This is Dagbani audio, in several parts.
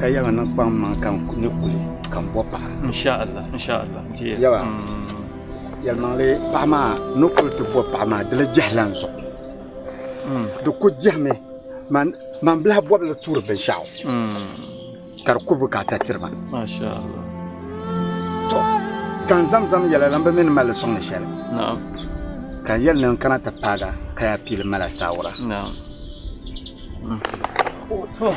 Ka yaga niŋ kpaŋ maŋ ka n ni kuli ka n bɔ paɣa. Insha Allah, insha Allah. Dear. Yaga. Mm. Yɛlimaŋli paɣa maa ni kuli ti bɔ paɣa maa di la jɛhila n zuɣu. Mm. Di ku jɛhimi man man bilahi bɔbili tuuri binshɛɣu. Mm. Ka di ku bukaata tiri ma. Masha Allah. To ka n zamzam yɛla lan bi mini mali sɔŋ ni shɛli. Naam. Ka n yɛli ni n kana ti paaga ka ya piili mala saawura. Naam. Mm. Oh, oh.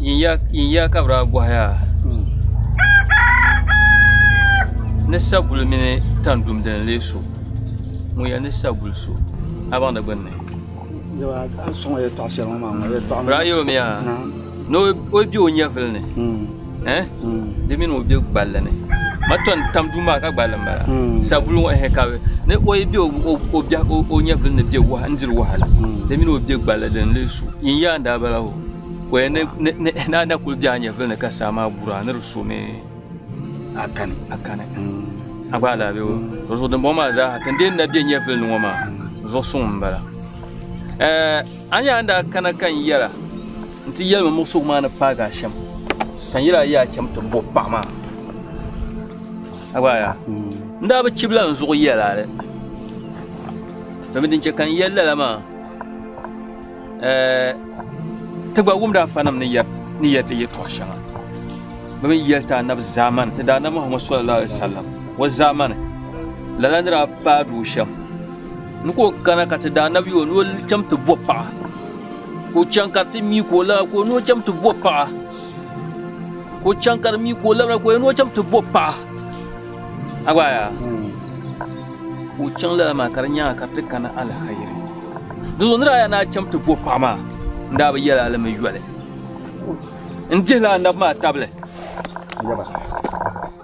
Yin ya ka bɛ daa gɔhi a ni saguli mini tandum dini n-lee so? Ŋun ya ni saguli so, a baŋdi gbinni? Bɛ daa yɛl o mi yaa ni o be o nyɛvili ni. eh di mini o be gballi ni ma ton tam duu maa ka gballi mala hmm. sabulu ŋɔ eh ka ni o yi be o biɛh o nyɛvili ni be waha n diri wahala hmm. di mini o be gballi din lee su yin yaa daa bala o ko ya na na kuli be a nyɛvili ni ka saa maa bura ni di so mi akani akani hmm. a gba ala be o to zuɣu dimbɔŋ maa zaaha tin dee na be nyɛvili ni ŋɔ maa zuɣu suŋ m bala eh, a yaa daa kana ka n yɛra N ti yɛlimi muɣisigu maa ni paagi a shɛm, ka n yɛl a yi a cham ti bo paɣ maa. A gba a yaa? N daa bi chib la n zuɣu yɛl a li. Domin din chɛ ka n yɛl lala maa, ti gba wumd afanim ni yɛri ti yɛtɔɣ shɛŋa bɛ ni yɛli ti anabi zaamani ti Daana Muhammad sallallahu alaihi wasallam o zaamani la la ni daa paagi o shɛm ni ka o kana ka ti Daanabi yo ni o cham ti bo paɣ. Ka o chaŋ ka ti mi ka o labra ka o ni o chaŋ ti bo paɣa. Ka o chaŋ ka di mi ka o labra ka o ni o chaŋ ti bo paɣa. A gba yaa. Ka o chaŋ lala maa ka di nyaanga ka ti kana alhairi. Dinzuɣu nira aya naa chaŋ ti bo paɣa maa n daa bi yɛla alimi yoli. N dihila anabi maa tabili. Yaba.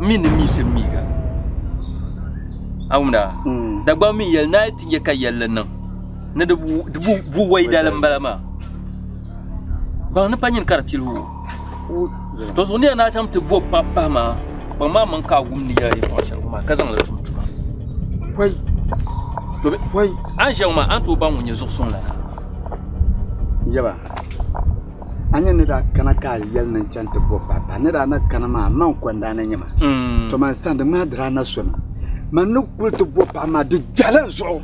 n mi ni miisi n miiga. Awuna, hmm. Dagbaŋ mi yɛli naa ti nyɛ ka yɛlli niŋ ni di bu waidali m-bala maa. Baŋ ni pa nyini ka di pili o. To zuɣu niya naa chaŋ ti bo pa pahi maa, baŋ maa maŋ ka a wum ni yɛla yi tɔɣa shɛli maa ka zaŋ li tum tuma. Pɔi. To be, pɔi. A ni ʒiya ŋɔ maa, a ni tooi baŋ ŋun nyɛ zuɣu suŋ lana. Yɛba. a ni yɛn ni daa kana ka a yɛli ni n chani ti bɔbi ba bahi ni daa na kani maa m ma n kɔndaa ni nyɛma to man sani di ŋmanila di daa na somi man ni kuli ti bɔbi paɣa maa di jahila n zuɣu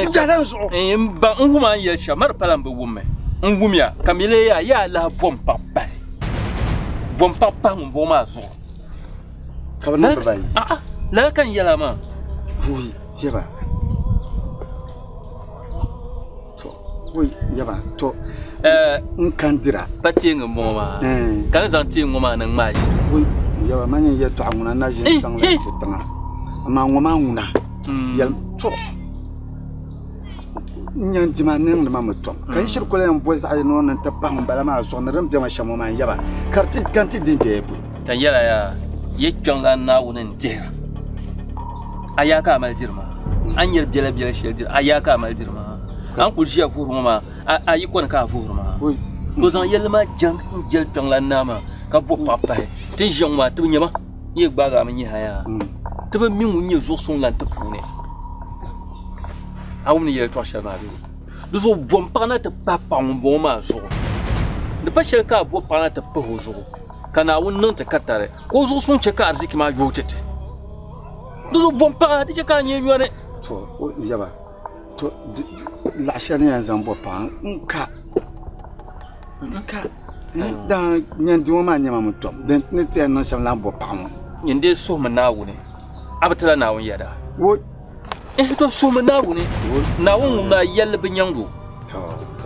di jahila n zuɣu n ba n wum a ni yɛli shɛm ma di pala n bi wummi n wumya ka mi lee yaa yaa lahi bɔm paɣa pahi bɔm paɣa pahi ŋun bɔŋɔ maa zuɣu ka bi niŋ bibayi a'a lala ka n yɛla maa buyi yɛba Pa teeŋa m-bɔŋɔ maa ka ni zaŋ teeŋ ŋɔ maa niŋ maa ʒini Ka yɛla yaa, yi kpiɔŋla Naawuni n-dihira. A yaa ka a mali diri maa? A ni nyari biɛla biɛla shɛli diri, a yaa ka a mali diri maa? A ni kul ʒiya vuhiri ŋɔ maa, a yi kɔni ka a vuhiri maa? O zaŋ yɛlli maa jɛm n-jɛli kpiɔŋlan naa maa, ka bɔbi paɣ pahi, Ti ni ʒiya ŋɔ maa, ti bi nya ma. N yi gbaag a mi nyɛ ha yaa, ti bi mi ŋun nyɛ zuɣu suŋ lan ti puuni. A wumdi yɛltɔɣ shɛli maa bee? Di zuɣu bɔm paɣ na ti pahi paɣ ŋun bɔŋɔ maa zuɣu, di pa shɛli ka a bɔbi paɣ na ti pahi o zuɣu. Ka Naawuni niŋ ti ka tari ka o zuɣu suŋ chɛ ka ariziki maa yooi chɛ ti. Di zuɣu bom paɣa di chɛ ka a nyɛ yɔri. To, o yaba, to laɣ shɛli ni yɛn zaŋ bɔ paɣa n-ka, n-ka, dama yɛn di ŋɔ maa nyɛma mi tɔbu din ni ti yɛn niŋ shɛm lahi bɔ paɣa ŋɔ. Yɛn dee suhimi Naawuni, a bi tila Naawuni yɛda. eh to suhimi naawuni naawuni ŋun maa yɛlli bi nyɛŋgo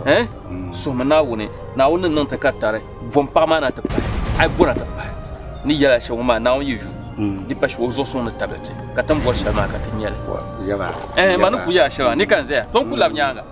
eh suhimi naawuni naawuni ni niŋ ti ka tari bom paɣa maa na ti pahi ai bona ti pahi ni yɛla shɛli ŋun maa naawuni yi yu di pa shɛba o zuɣu suŋ ni tabili ti ka tin bɔri shɛli maa ka ti nyɛli eh ma ni ku yɛla shɛba ni ka n zaya to n ku labi nyaanga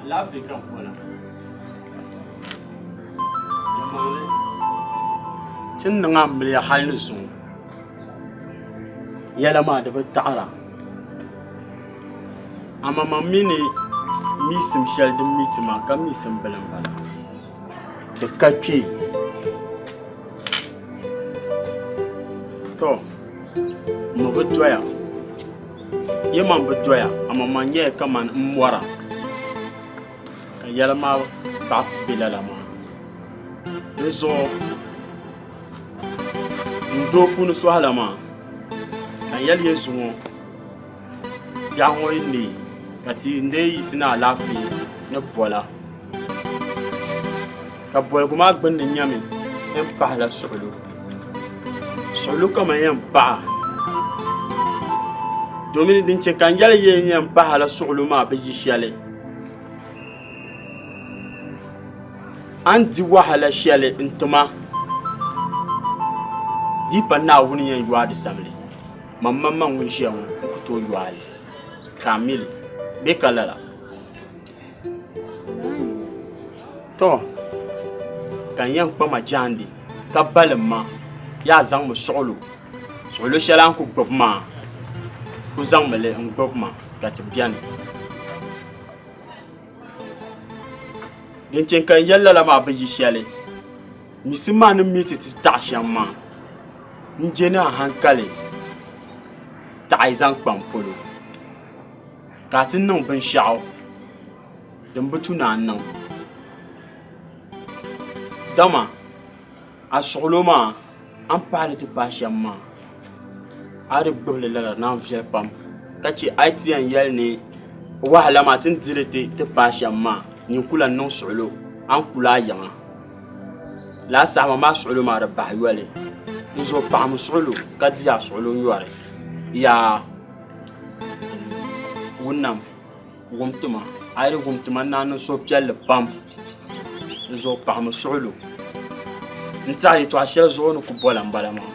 Alaafee ka n bɔna. Nyɛmmaŋli, ti ni niŋ a ni mili ya hali ni zuŋɔ yɛla maa di bi taɣira. Amaŋmaŋ mi ni miisim shɛli din mi ti maa, ka miisim bili m-bala. Di ka kpe. Tɔ! Ŋ mi bi doya. Ya man bi doya, amaa man nyɛla kaman m mɔra, ka yɛla maa baɣa be lala maa. Di zuɣu n do puuni sɔhi la maa, ka yɛli Yezu ŋɔ, Biɛhigu ŋɔ yi neei, ka ti yi n-lee yiɣisi ni alaafee ni bɔla. Ka boligu maa gbunni nyɛmi din pahila suɣulo suɣulo kama yɛn paɣa domi din chɛ ka n yɛli yɛn yɛn pahala suɣulo maa bi yi shɛli a ni di wahala shɛli n tima di yi pa Naawuni yɛn yuwa di sabili manmaŋmaŋ ŋun ʒiya ŋɔ n ku tooi yuwa a yi ka a mi li bee ka lala To ka n yɛn kpa ma jaandi ka balim ma yaa zaŋmi suɣulo suɣulo shɛli a ni ku gbubi maa ku zaŋmi li n gbubi ma ka ti biɛni din chɛŋ ka n yɛli lala maa bi yi shɛli misimma maa ni mii ti ti taɣa shɛm maa n je ni a hankali taɣi zaŋ kpa n polo Ka a ti niŋ binshɛɣu din bi tu ni a niŋ. Dama a suɣilo maa a ni pahi ni ti paai shɛm maa a di gbubi li lala naan viɛli pam ka chɛ a yi ti yɛn yɛli ni wahala maa ti ni di li ti paai shɛm maa nyin ku lahi niŋ suɣilo a ni kuli a yiŋa lala saha maa maa suɣilo maa di bahi yoli n zo paɣam suɣilo ka di a suɣilo nyɔri yaa wunima wumtuma a yi lihi wumtuma ni a niŋ suhupiɛlli pam dizuɣu pahimi suɣulo n tiɛha yɛltɔɣa shɛli zuɣu o ni ku bɔla n bala maa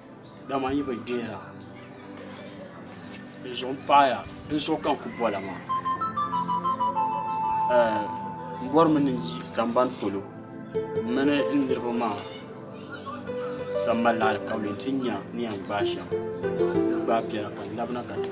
Dama n yi bi deeri a dinzuɣu m paɣi ya dinzuɣu ka n kuli bɔla maa m bɔrimi ni n yi samban polo m mini n niriba maa zaŋ malila alikauli nti nya ni yɛn gbaai shɛm ni bɛ gbaai bɛla ka n labina ka ti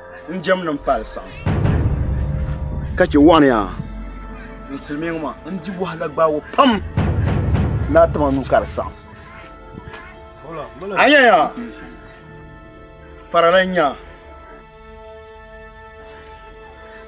n jɛm ni n pali saɣim. Ka chɛ waɣa ni yaa. N silimiiŋ maa n di wahala gbaagu pam ni a tim a nuu ka di saɣim. A nya yaa, farila n-nya.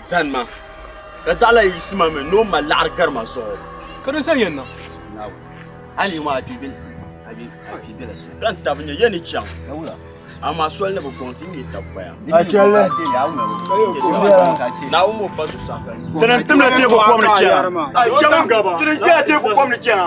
Zani ma, di daɣila yi yiɣisi ma mi ni o mali laɣiri gari ma zuɣu. Ka di zani ya na. Hali yi mɔɣu a kpiibil ti, ka n tabi nya ya ni chaŋ. Amaa soli ni bi gɔŋ ti, n-nyɛ tabigbaya. Naawuni o ba zuɣusaa ka n nya. Di ni timla teeku kom ni chana.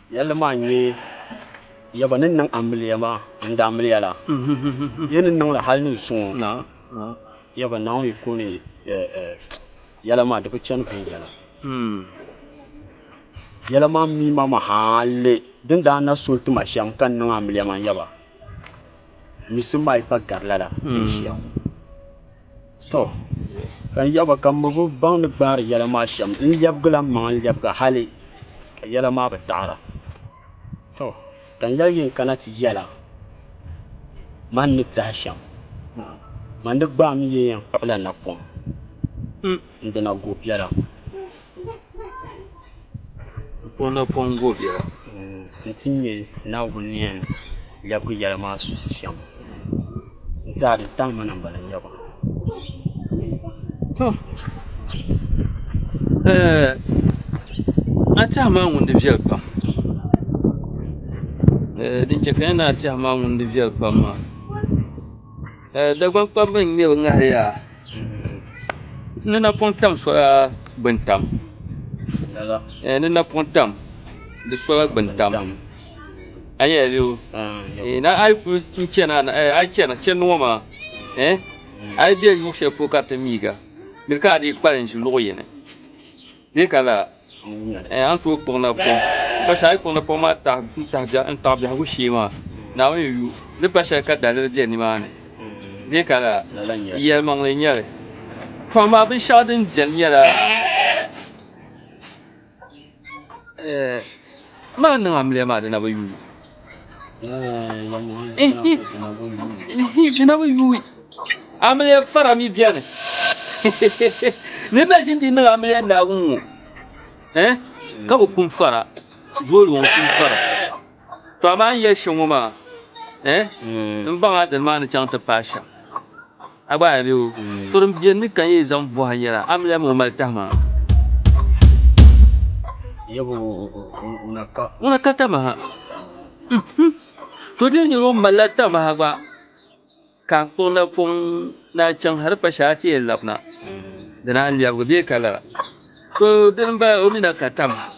Yɛlli maa n-nyɛ, Ya gba ni niŋ amiliya maa n-daa miliya la, ya ni niŋ li hal ni zuŋɔ ya gba Naawuni ko ni yɛla maa di bi chani viɛnyɛla. Yɛla maa mi ma mi hali din daa na so n-ti ma shɛm ka n-niŋ amiliya maa, ya gba mi simma yi pa gari lala din ʒiya ŋɔ. Tɔ! Ka n yaba ka m bi baŋ ni gbaari yɛla maa shɛm, n lɛbigila m maŋa n-lɛbiga hali ka yɛla maa bi taɣira. Tɔ! Ka n yɛli yi n-kana ti yɛla man ni tɛhi shɛm, man di gbaai mi yi yɛn kpuɣila napɔŋ, m dina guubiɛla! N ti nyɛ Naawuni ni yɛn lɛbigi yɛli maa shɛm n tɛha di tam ma ni n bala nyaba tɔ a tɛha maa ŋuni di viɛli pam din chɛ ka yɛn niŋ a tɛha maa ŋuni di viɛli pam maa Dagbaŋ kpabbu n nyɛ bi ŋahi yaa ni na pun tam sola gbuni tam ni na pun tam di sola gbuni tam a ni yɛn lihi o ni a yi ku chɛna a yi chɛna chɛndi ŋɔ maa a yi bɛ luɣu shɛli polo ka di ti miiga di ka a dii kpalim ʒi luɣu yini Bee ka lala a ni tooi kpuɣi napɔŋ pa shɛli a ni kpuɣi napɔŋ maa taɣ biɛhigu shee maa, Naawuni ni yu ni pa shɛli ka daliri be nimaani bee ka lala yɛlimaŋli n-nyɛ li. To amaa binshɛɣu din beni nyɛla maa niŋ amiliya maa di na bi yu. Jinabu yuwi amiliya fara mi bɛni ni na ʒi di niŋ amiliya naagu ŋɔ eh? ka bi kun fara zooli ŋɔ kun fara to amaa n yɛli shɛm ŋɔ maa eh? n baŋa dini maa ni chaŋ ti paai shɛm A gba a be o. To din beni ni ka n yi zaŋ bɔh a nyɛla, a mi lɛm o mali tahi maa. Yabo, ŋuna ka. Ŋuna ka tamaha. Uhum. To di nir o malila tamaha gba, ka n kpuɣ na pɔŋ ni a chaŋ hal pa shɛl a ti yɛn lab na, di naan lɛbigi bee ka lala. To dini m-bala, o mi na ka tamaha.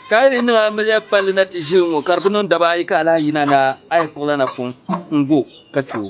Ka a yi di niŋ a miliya palli na ti ʒili ŋ-ŋɔ, ka di bi niŋ daba ayi ka alahi yina ni a yi kpuɣ la na pɔŋ n-gu o ka chɛ o.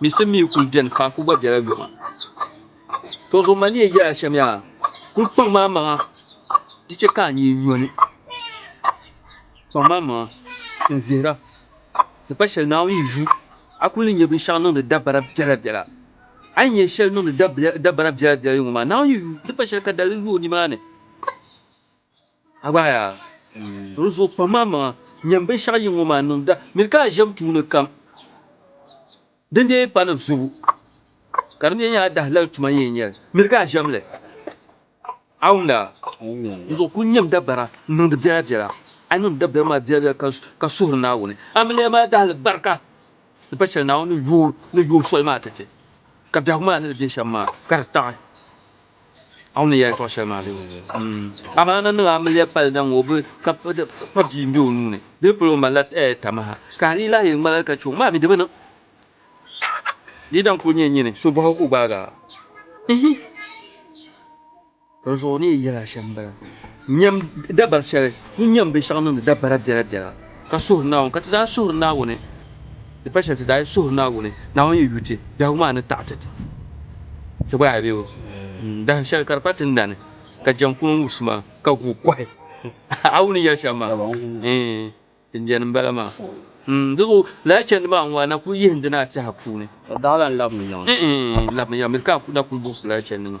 Misim mi kul beni pam kul gba bela yoma. Tɔ zuɣu ma ni yɛn yɛl a shɛm yaa, kul kpaŋ ma amaŋa di chɛ ka a nyee nyo ni. Kpaŋ ma amaŋa ka n vihira, ni pa shɛli Naawuni yi yu a kul ni nya binshɛɣu niŋdi dabara biɛla biɛla. A yi nya shɛli niŋdi dabara biɛla biɛla yoma maa, Naawuni yi yu ni pa shɛli ka daliri lu o nimaani. Di zuɣu kpam a maŋa nyam binshɛɣu yi ŋɔ maa niŋda miri ka a ʒiɛm tuuni kam din dee yi pa ni zubu ka di mi nyɛ a dahalali tuma n-yɛn nyɛ li, miri ka a ʒiɛm li. Awumda, di zuɣu kul nyam dabara n-niŋdi biɛla biɛla, a niŋdi dabiɛm maa biɛla biɛla ka suhiri Naawuni amiliya maa dahili barika di pa shɛli Naawuni ni yooi soli maa tɛte ka biɛhigu maa ni di be shɛm maa ka di taɣi. Amaana niŋ amiliya pali zaŋ o bili ka kpabi bia m-be o nuu ni, di ni polo o malila tamaha. Ka a ni yi lahi yɛn ŋmaligi ka chɛ o, maa mi di bi niŋ. Di yi dam kul nyɛ nyini, so bɔhigu ka o gbaag a? Ihi! Dinzuɣu o ni yɛn yɛl a shɛm m-bala, Nyam dabari shɛli, ni nyam binshɛɣu niŋdi dabara biɛlabiɛla. ka suhuri Naawuni, ka ti zaa suhuri Naawuni, di pali shɛli ti zaa yi suhuri Naawuni, Naawuni yi yu ti, biɛhigu maa ni taɣiti ti. Ti gba yaa be o ni dahin shɛli ka di pa ti na ni, ka jɛm kum n wubisi ma, ka guui kɔhi. A wum ni yɛli shɛm maa? Ɛɛn, din beni m bala maa. N di zuɣu lala chandi maa ŋɔ, a na kul yihindi ni a tɛha puuni. Daɣila n labimi yiŋa. Ɛɛn, n labimi yiŋa, miri ka a na kul buɣisi lala chandi maa.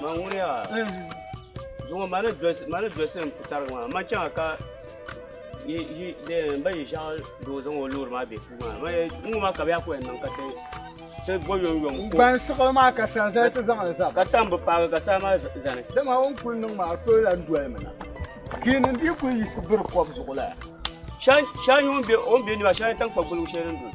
Man ŋuniya zuŋɔ ma ni dosi ma ni dosi n putariga maa ma chaŋa ka yi yi de n ba yi ʒɛɣu doo zaŋ o loori maa be puu maa ma n ŋu ma ka bɛ yaa ko yɛn niŋ ka ti ti bo yom yom ko Ban siɣili maa ka san zali ti zaŋli zaba. ka tam bi paagi ka saa maa z- zani Dama o ni kuli niŋ maa o tooi lahi doli mi na. Ka yi niŋ di yi kuli yiɣisi biri kɔb zuɣu la. shɛli shɛli nyɛ o ni be o ni be ni maa shɛli n-nyɛ tankpa gbuligu shɛli din doli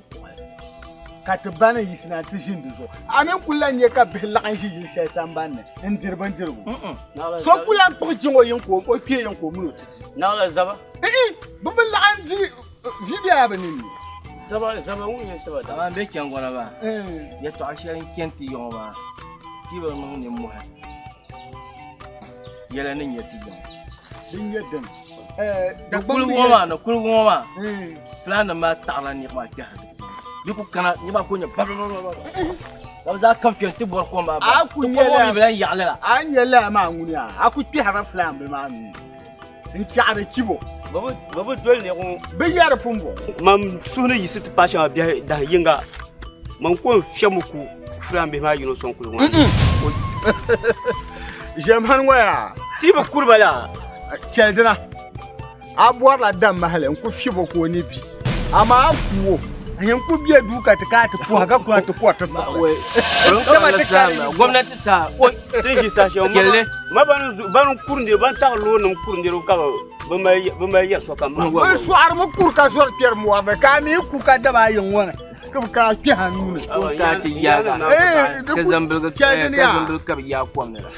ka ti ba ni yiɣisi na ti ʒini di zuɣu a mini kuli lan nya ka bihi laɣim ʒi yili shɛli sambanni n diri bindirigu so kuli lan kpuɣi jiŋ o yiŋ ka o kpee yiŋ ka o mini o ti di naɣila zaba ihi bi bi laɣim di vi bɛ a bi ninni zaba zaba ŋun yɛn tiba da aman bɛ chɛngɔna maa yɛtɔɣa shɛli n chɛni ti yɔŋɔ maa ti bi niŋ nimmɔhi yɛla ni nyɛ ti zaŋ din nyɛ din da kuligu ŋɔ maa ni kuligu ŋɔ maa plan nim maa taɣala niriba maa kpɛhira di puuni di ku kana niriba maa ku nyɛ bababababa ka bi zaa kam kpɛ n ti bɔri kom maa a ku nyɛla yaɣali la a nyɛla maa ŋuni a ku kpɛhira plan bi maa mi n tiɛɣiri chibo bɛ bi doli ni ŋɔ bɛ yɛri pun bɔŋɔ mam suhu ni yisi ti paai shɛŋa biɛhi dahi yinga mam ko n fiɛmi ku fulaan bihi maa yino sɔŋ kuligu ʒɛm han ŋɔ yaa ti bi kuri ba la chɛli dina a bɔrila dam mahali n ku fiɛbo ka o ni bi Amaa a kuwo, a yɛn ku bɛ duu ka ti ka ti puha ka kuna ti kuwa ti siɣi. Gomnati saa tin ʒi saha shɛli piɛlli ma ban kuri niriba ban taɣi loori nim kuri niriba ka bi mali yɛri sokam maa. Bi sɔɣirimi kuri ka zɔri kpɛri mɔri ni ka a mi ku ka daba ayi ŋɔ ni ka bi kana kpɛha nuu ni. Ka zambiligi ka bi yaai kom ni la.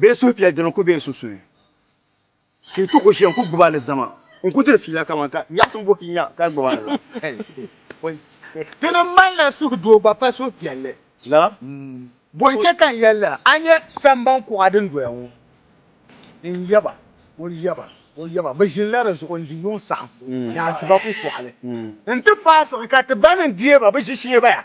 Bɛ suhupiɛl dini ku be n sunsuuni, ka yi ti ku ʒiya n-ku gbibi alizama n-ku diri fiila kaman ka nyaɣisim buhi yi nya ka gbibi alizama. Ti ni malila suhudoo gba pa suhupiɛlli la, bɔ n-chɛ ka n yɛlila a nya samban kuɣa din doya ŋɔ? N yaba, o yaba, o yaba, bɛ ʒinila di zuɣu n-di yuŋ saɣim ni asiba kukɔɣili nti faai siɣi ka ti ba ni n-deei ba bɛ ʒishee baya.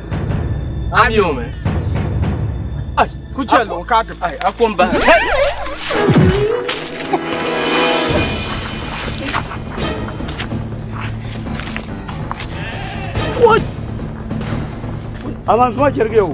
A mi o mi. Ai, ku chɛ luɣu ka ti pahi, a kom bahi. Avance ma jerigi o.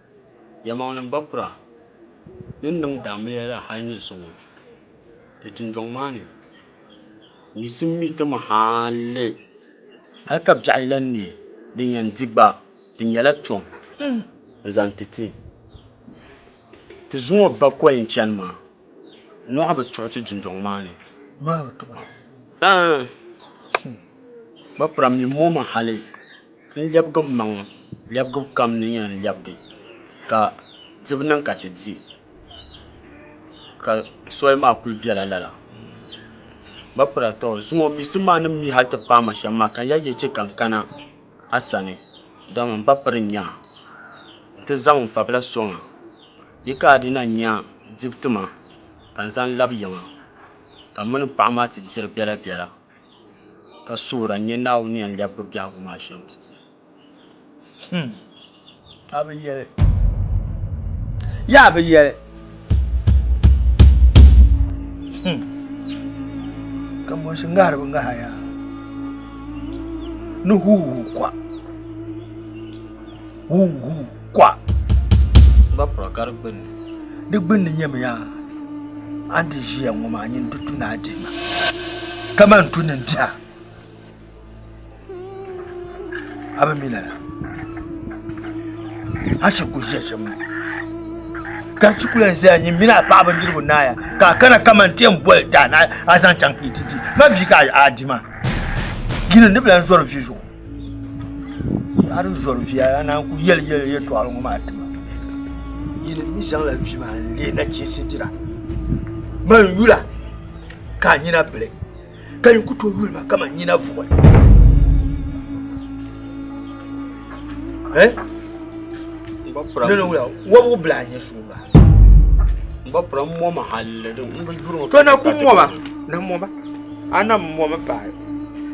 Yɛlimaŋli bakura din niŋ daamliya la hal nyɛ so ŋɔ. Di dundɔŋ maa ni, misi m-mi ti mi hali hal ka biɛɣu lan neei din yɛn di gba, di nyɛla tom n-zaŋ ti ti. Ti zuŋɔ bakɔi n-chani maa, nyɔɣu bi tuɣi ti dundɔŋ maa ni. Nyɔɣu bi tuɣi? Ɛɛn! Bakura mi m-mo ma hali. N lɛbigi m maŋ lɛbigibu kam ni yɛn lɛbigi ka dibu niŋ ka ti di ka soli maa kuli bela lala m ba pira tɔ zuŋɔ miɣisi maa ni mi hali ti paai ma shɛm maa ka n yɛli ya chɛ ka n kana a sani dama m ba piri n nya nti zaŋ n fabila sɔŋ a bɛ ka a di na nya dibu ti ma ka n zaŋ labi ya maa ka m mini m paɣa maa ti diri bela bela. ka suhira n-nyɛ Naawuni ni yɛn lɛbigi biɛhigu maa shɛm ti ti hmm. A bi yɛli yaa bi yɛli hmm. ka mɔnsi ŋahiri bi ŋaha yaa ni huuhuu kwa huuhuu kɔa. N gba pura ka di gbunni. Di gbunni nyɛmi ya a ni di ʒiya ŋɔ maa nyini di tu ni a dihi ma kamani tu ni diha a bi mi lala a shiri ku ʒiya shɛm ŋɔ ka chi kula n zaya nyini mini a paɣa bindirigu naaya ka a kana kamani ti yɛn boli daa ni a zaŋ chaŋ ka yi ti di ma vi ka a di ma gini ni bila n zɔri vi zuɣu ari zɔri via ya naan ku yɛli yɛli yɛtɔɣali ŋɔ maa tima yini mi zaŋla vi maa n leei nachiinsi dira man yula ka a nyina bili ka yin ku tooi yuli ma kamani nyina vuɣi eh? nana wula wɔbigu bila a nyɛ suumba n ba pira mɔma halli din n bi yuri ŋɔ to na ku mɔma na mɔma A na mɔmi paai.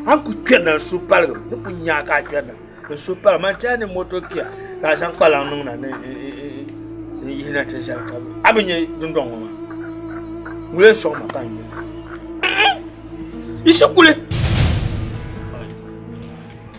A ku kpɛrina n suhu paligi mi. Di ku nya ka a kpɛrina n suhu paligi mi. A tiɛhi ni moto kia ka a zaŋ kpalaŋ niŋ na ni n yihi na ti zali ka a bi nya dundɔŋ ŋɔ maa. N lee sɔŋ ma ka n yuli. Yiɣisi kuli.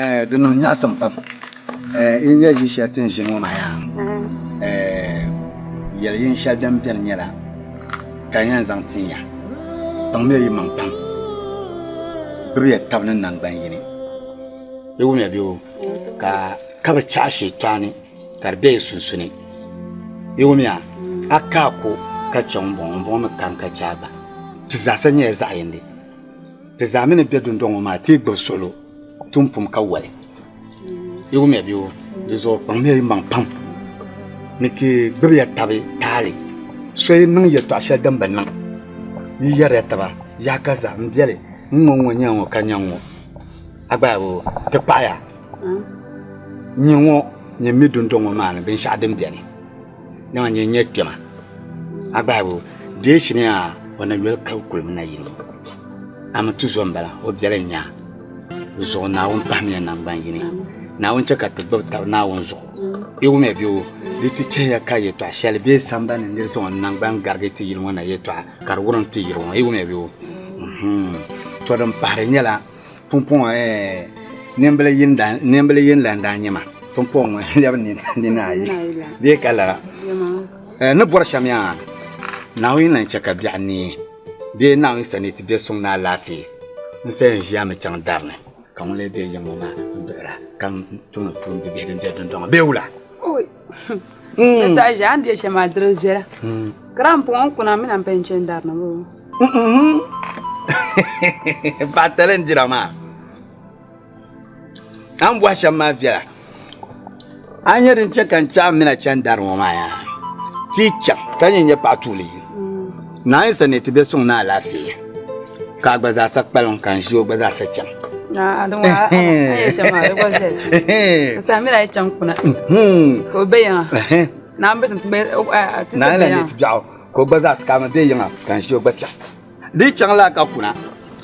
Ɛɛ, di niŋ nyaɣisim pam. Ɛɛ, yi nya ʒi shɛli ti ni ʒi ŋɔ maa yaa, ɛɛ, yɛli yin shɛli din beni nyɛla ka n yɛn zaŋ tin ya, kpaŋmiya yimaŋ pam, gbibiya tab ni naŋgban yini, yi wumya bɛ wo, ka ka bi chaɣi Shɛtaani ka di be yi sunsuni. Yi wumya? A ka a ko ka chɛ ŋun bɔŋɔ, ŋun bɔŋɔ mi ka n ka chɛ a gba. Ti zaasa nyɛla zaɣ yindi. Ti zaa mi ni be dundɔŋ ŋɔ maa, ti yi gbibi suɣilo, tum pum ka wali. Yi wumya bee wo? Di zuɣu kpaŋmiya yi maŋ pam ni ti gbibiya tabi taali. So yi niŋ yɛtɔɣ shɛli din bi niŋ, yi yɛriya taba, Yaa ka za, m biɛli, n ŋɔ n-ŋɔ nya ŋɔ ka nya ŋ-ŋɔ. A gba yaa bi wo? Ti kpaɣiya nyin ŋɔ nyin mi dundɔŋ ŋɔ maa ni binshɛɣu din beni. Dama n-nyɛ nyɛ kpɛma a gbahibu deeshi ni a o na yoli ka kuli mi na yini a mi tuzo m-bala o biɛli n-nya di zuɣu Naawuni pahimiya naŋgban yini Naawuni chɛ ka ti gbubi tab Naawuni zuɣu i wumiya bee o di ti chɛhiya ka yɛtɔɣ shɛli be sambani ni nir zaŋ o naŋgban garigi ti yili ŋɔ na yɛtɔɣa ka di wurim ti yiri ŋɔ i wumiya bee o? Tɔ din pahiri nyɛla. Pumpɔŋɔ nimbili yini la n-daa nyɛ ma, pumpɔŋɔ ŋɔ lɛbi nini ayi bee ka lala. Ni bɔri shɛm yaa, Naawuni lan chɛ ka biɛɣu neei bee Naawuni sa ni ti be suŋ ni alaafee. N saya n-ʒiya mi chaŋ dari ni ka ŋun lee be yiŋ ŋɔ maa n-duɣira ka n tuun tuun bibihi din be dundɔŋɔ bee wula? Ka tɛha ʒe a ni be shɛm maa diri viɛla ka daa m-pɔŋ n kuna mina m-paya n-chani dari na ŋɔ. Baatali n-dira maa. A ni bɔhi shɛm maa viɛla a ni nyɛ din chɛ ka n chaɣim mina chani dari ŋɔ maa yaa ti yi chaŋ ka nyɛ n-nyɛ paɣ tuuli yini. Naayinsi ni ti bɛ suŋ ni alaafee ka a gba zaa sa kpalim ka n ʒi o gba zaa sa chaŋ. Samira yi chaŋ kuna ka o bɛ yiŋa na n bɛ suŋ ti bɛ ti bɛ yiŋa. Naayinsi ni ti bɛɣu ka o gba zaa sa ka mi bɛ yiŋa ka n ʒi o gba chaŋ di chaŋ la ka kuna.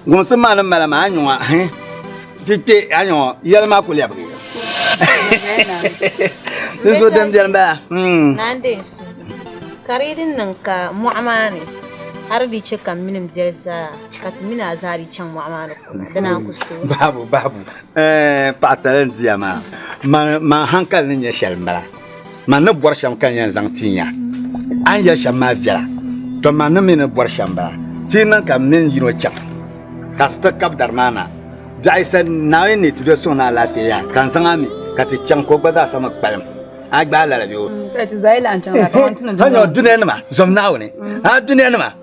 Gumsi maa ni mala maa nyɔŋa ti kpe a nyɔŋa yɛli maa ku lɛbigi. Di zo din bɛni bala. Hmm. Ka di din niŋ ka mɔɣu maa ni hali di chɛ ka mini biɛli zaa ka ti mini a zaa di chaŋ mɔɣu maa ni kuna di naan ku so. Babu babu eh, paɣa tali n diya maa man hankali ni nyɛ shɛli n bala. Man ni bɔri shɛm ka n yɛn zaŋ ti ya. A ni yɛli shɛm maa viɛla, tɔ man ni mi ni bɔri shɛm m-bala. Ti yi niŋ ka m mini yino chaŋ ka ti ti kab dari maa na, dɔɣi yi sani ni Naawuni ni ti bɛ suŋ ni alaafee yaha, ka n zaŋ a mi ka ti chaŋ ka o gba zaa sa mi kpalim. A gbaai lala bee? Hanyɔ, dunia nima, zom Naawuni! A dunia nima!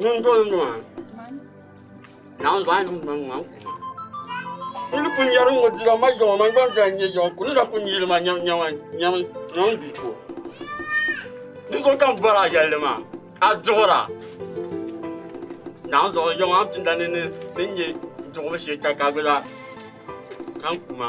Nundoonima, naanzɔhi nim noli ŋman kuma. N ni pun yɛri ŋɔ dira ma yawa man gba n-daa nyɛ yawa ku ni daa pun yili ma nyɛma nyɛma ŋɔ n-di ko. Di so ka m bɔri a yɛlli maa a duɣira. Naanzɔhi yawa a ni pinda ni n nya duɣibu shee ka ka gba zaa zaŋ kuma.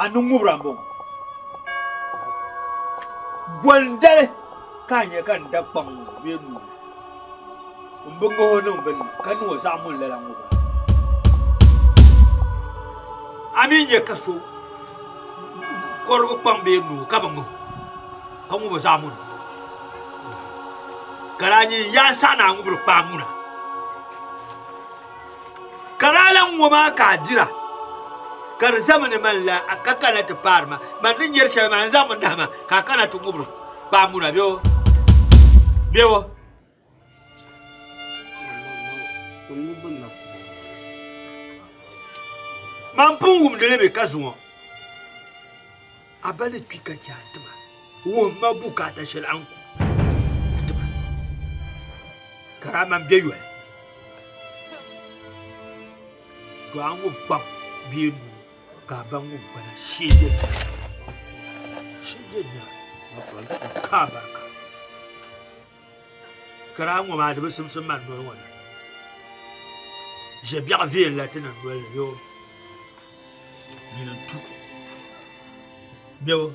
a ni ŋubira m-bɔŋɔ. Bɔndali ka a nya ka n da kpaŋ ŋɔ bee n ŋubi li? M bi ŋah o niŋ binni ka niŋ o zaɣ muni lala ŋubira. A mi nya ka so kɔrigi kpaŋ bee noo ka bi ŋah o ka ŋub o zaɣ muni? Ka daa nyin ya n saɣi ni a ŋubiri kpaam ŋuna. Ka daa lan ŋɔ maa ka a dira, ka di zami ni man la a ka kana ti paari ma. Man ni nyari shɛli maa, n zaŋmi nahi ma ka a kana ti ŋubiri kpaambuna bɛ o, bɛ o. Man pun wumdi li bɛ ka zuŋɔ. A ba ni kpi ka chɛ a ti ma, wuhim ma bukaata shɛli a ni ku ka ti ma, ka daa man bɛ yoli. Dɔɣi a ŋun kpab bee nuu ka a ba ŋun kpala sheege nyaai ka a barika. Kiraa ŋɔ maa di bi simsim man noli ŋɔ ni ʒe biɛɣu viɛl la ti niŋ noli ni yoo nyini n-tu mɛbu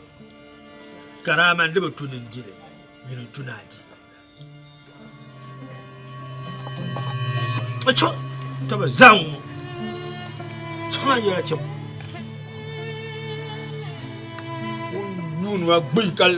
kiraa man di bi tu ni n-di li nyini n-tu ni a di a chɔ ti bi zaŋ ŋɔ sɔŋ a yɛla chɛ ŋun yuuni ma gbuyi kali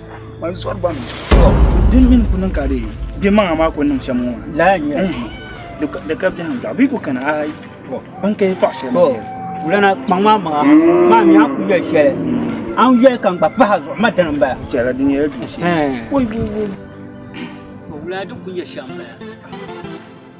man zɔri ba mi din min ku niŋ ka di bɛ maŋa maa ku niŋ shɛm ŋɔ laa n nyɛ di ka biɛhim biɛɣu bee ku kana ayi ban ka yi tɔɣu shɛli wulana kpaŋ maa maŋa maa mi a ku yɛli shɛli an yɛli ka n gba pahi zuɣu ma dini n bala chɛla di nyɛla du shɛli wulana di ku nyɛ shɛm bala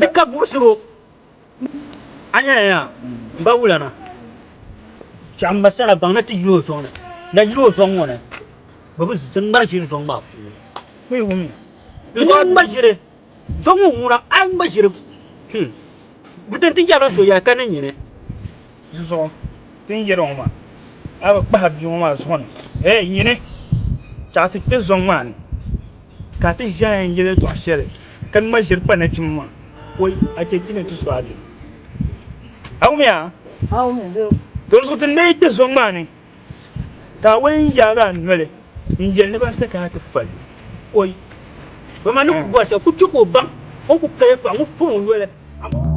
Di ka buɣisigu a nyɛla ya m ba wulana chɛɣu m ba sala baŋ na ti yi o zɔŋ ni na yili o zɔŋ ŋɔ ni bɛ bi zi ŋmari ʒiri zɔŋ maa puuni n yi wumya di zuɣu a ŋma ʒiri zɔŋ ŋɔ wuŋa a ŋma ʒiri hum bɛ tanti yɛbiri so ya ka ni nyini Di zuɣu ti ni yɛli ŋɔ maa, a bi kpahi bia ŋɔ maa zuɣu ni, Hey nyini! Chaɣi ti kpe zɔŋ maa ni ka a ti ʒi a yɛn yɛli yɛltɔɣa shɛli ka ŋma ʒiri kpa nachimba maa, o yi a chɛ ti ni ti su a bee? A wumya? Di zuɣu ti ni yi kpe zɔŋ maa ni. Kaawuni n yaagi a noli n yeli ni ban ti kana ti fali o yi ba ma ni ku bɔri shɛli ku che ka o baŋ o ni ku paya pam ŋɔ fɔŋ o noli amaa.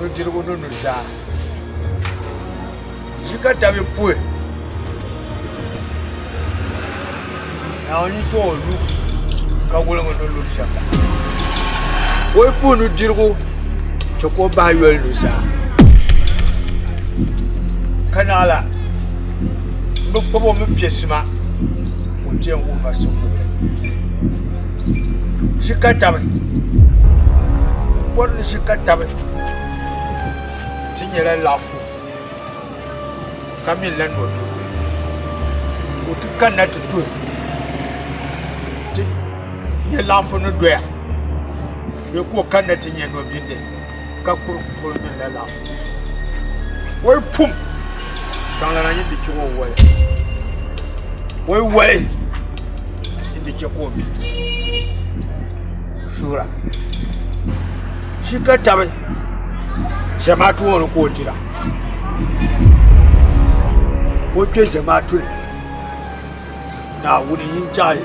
nudirigu ni nuzaa. Di ka dabi puhi Naawuni ti o lu ka woligi ni lu shɛm la. Ka o yi puhi nudirigu chɛ ka o bahi yoli nuzaa. Ka naɣila m bi kpab o mi piɛ sima ka o ti yɛn wuhi ba siŋ wuhibu. ʒikatabi mɔri ni ʒikatabi ti nyɛla laɣifu ka mi la nɔdirigu ka o ti kanna ti tuhi ti nyɛ laɣifu ni doya bee ka o kanna ti nyɛ nɔbindi ka kul kul ŋmɛnila laɣifu woli pum baŋlana yi di chɛ o woli woli woli yi di chɛ ka o mi suura shi ka tabi zamaatu ŋɔ ni ka o dira ka o kpe zamaatu ni Naawuni n-yi n-chahi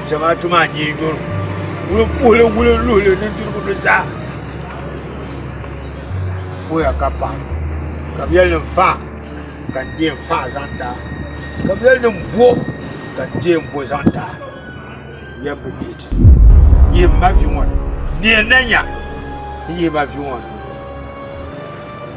Zamaatu maa nyee nyɔri wulimpuhili wulinluhili nudirigu ni zaa pooya ka pahi ka bɛ yɛlinim faɣa ka n deei faɣa zaŋ n-ti a ka bɛ yɛlinim bo ka n deei bo zaŋ n-ti a yɛm bi mi ti yihi m ma vi ŋɔ ni ni yɛn na nya n yihi ma vi ŋɔ ni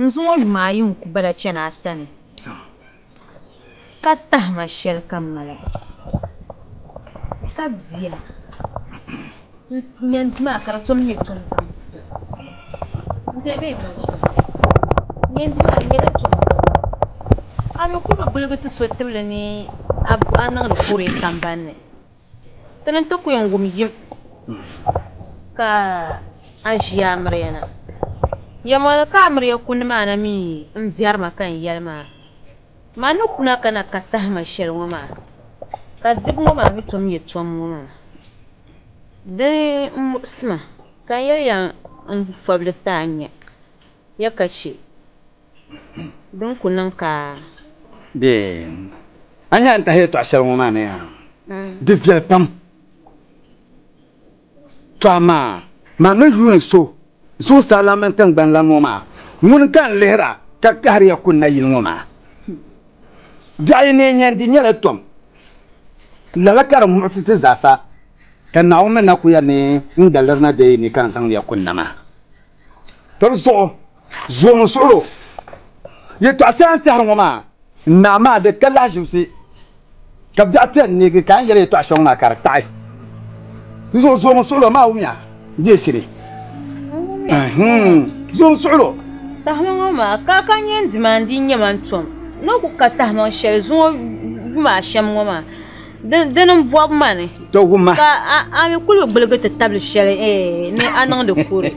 N zuŋɔ yuma ayi n ku bala chani ata ni ka tahima shɛli ka m mali ka bia n nya n di maa ka di tom nyɛ tuun zani n deei bɛ yuma ʒili n nya n di maa di nyɛla tuun zani a ni ku bi gbiligi ti so tibili ni a niŋdi booi sambani ni. Ti ni ti ku yɛn wum yim ka a ʒi amiriya na. Yɛmoli ka amiriya ku ni ma na mi m-biɛri ma ka n yɛli ma, Ma ni kuna ka na ka tahi ma shɛli ŋɔ maa, ka dibu ŋɔ maa mi tom nyɛ tom ŋɔ maa. Dini m-muɣisi ma ka n yɛli ya n fabili ti a nya ya ka chɛ. Din ku niŋ ka a. Be. A ni yaa ni tahi yɛltɔɣa shɛli ŋɔ maa ni yaa di viɛli pam. Tɔ amaa man ni yuuni so zuɣusaa lan mini tiŋgbani lan ŋɔ maa, ŋuni ka n lihira ka kahiri ya kuni nayili ŋɔ maa? Biɛɣu yi ni nya n-di nyɛla tom, lala ka di muɣisi ti zaasa, ka Naawuni mi na ku ya ni n daliri na bee yi ni ka n zaŋdi ya kuni na maa. Tɔbu zuɣu Zuɣu n suhiro yɛtɔɣa shɛŋa n tɛhiri ŋɔ maa n naa maa di ka lahaʒibisi ka biɛɣu pɛ n neegi ka a ni yɛli yɛtɔɣa shɛŋa maa ka di taɣi di zuɣu zuɣu n suhiro maa wumiya deei shiri zuɣu n suhiro Tahima ŋɔ maa ka ka nyɛ n dimaandi n nyɛ ma n tom ni o ku ka tahimaŋ shɛli zuŋɔ yuma ashɛm ŋɔ maa Dini m-bɔbi ma ni ka a mi kul gbiligi ti tabili shɛli ni a niŋdi kuri.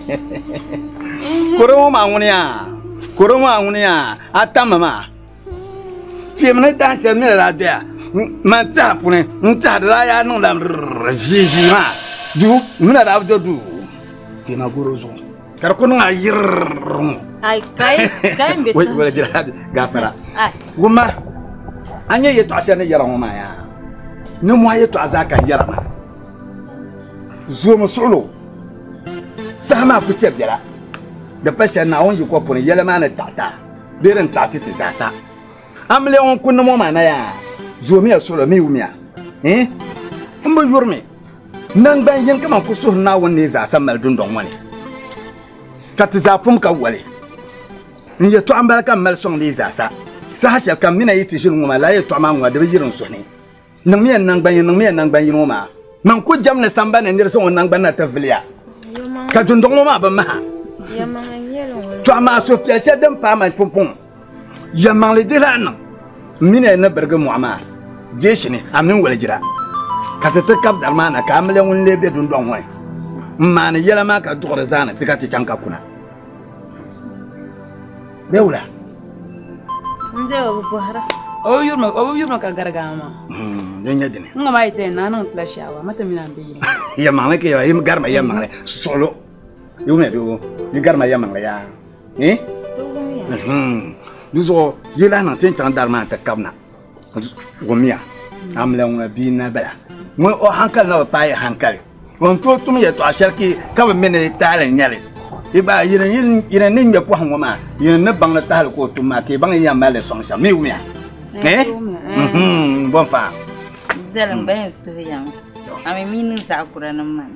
Kuri ŋɔ maa ŋuniya, kuri ŋɔ maa ŋuniya, a tammi maa. Tiɛm ni dahin shɛli mi ni daa doya, man tiɛha puuni n-tɛhirila yaa niŋda ʒiiʒii maa, duu mi ni daa bi do duu. Tiɛma garo zuɣu. Ka di ku niŋ a yirr ŋɔ. Ai, ka yi, ka yi be Wai, wala jira ha gafara. Ai. Wumma, a nya yɛtɔɣ shɛli ni yɛra ŋɔ maa yaa? Nimmɔhi yɛtɔɣ zaa ka n yɛra maa. Zoomi suɣulo, saha maa ku chɛ biɛla. Di pa shɛli Naawuni yiko puuni yɛla maa ni taɣita bee din taɣiti ti zaasa. Amiliya ŋun kunni ŋɔ maa na yaa zoomiya solo mi wumiya. Eh? M bi yuri mi nangban yini kaman ku suhuri Naawuni ni yi zaasa mali dundɔŋ ŋɔ ni, ka ti zaa pum ka woli. N yɛtɔɣa m-bala ka m mali sɔŋdi yi zaasa. Saha shɛlikam mi na yi ti ʒini ŋɔ maa, lala yɛtɔɣa maa ŋɔ di bi yiri n suhu ni. Niŋmiya n naŋgban yini, niŋmiya n naŋgban yini ŋɔ maa. Man ku jɛm ni samba ni nir zaŋ o naŋgban na ti viliya, ka dundɔŋ ŋɔ maa bi maha. Tɔha maa suhupiɛl shɛli din paai man pumpɔŋɔ, yɛlimaŋli di lahi niŋ m mini a ni birigi mɔɣu maa deeshi ni, a mini walijira, ka ti ti kab dari maa na, ka a mi lɛ ŋun leei be dundɔŋ ŋɔ ni m-maani yɛla maa ka duɣiri zaa ni ti ka ti chaŋ ka kuna. Bɛ wula? N je o bi bɔhira. O bi yurima o bi yurima ka garigi a maa. Hmm, din nyɛ dini? N ŋɔ maa yi tɛya naa niŋ tila shaawa ma ti mi naan bɛ yili. Ya maŋli ka ya yi garima ya maŋli suɣulo. Yi wumiya bee o yi garima ya maŋli yaa. Eh? Di zuɣu yi lahi niŋ ti ni chaŋ dari maa n ti kabina. Gumiya, a mi lan ŋuna bia n-na bala. Ŋun o hankali na bi paai hankali, o ni tooi tum yɛtɔɣ shɛli ki ka bi mi ni tahili n-nyɛ li. Yi gba, yi ni ni ŋme pɔhim ŋɔ maa, yi ni ni baŋ ni tahili ka o tum maa, ka yi baŋ yi yɛn mali li sɔŋ shɛm. Mi wumiya. N-bɔn faɣa. Zali m-ba yɛn suhu yaŋ, a mi mi niŋ zaɣ kura niŋ ma ni.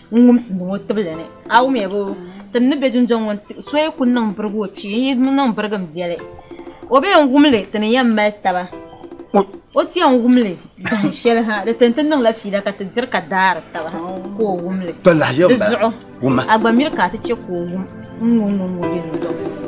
n wumsi niŋ o tibili ni a wumya bo ti ni be dundɔŋ ŋɔ n so yi kuli niŋ birigi o kpee n yi niŋ birigi m biɛli o be yɛn wumli ti ni yɛn mali taba o ti yɛn wumli dahin shɛli ha di tini ti niŋla fiila ka ti diri ka daari taba ha ka o wumli di zuɣu a gba miri ka a ti chɛ ka o wum n ŋɔ ŋɔ ŋɔ be dundɔŋ ŋɔ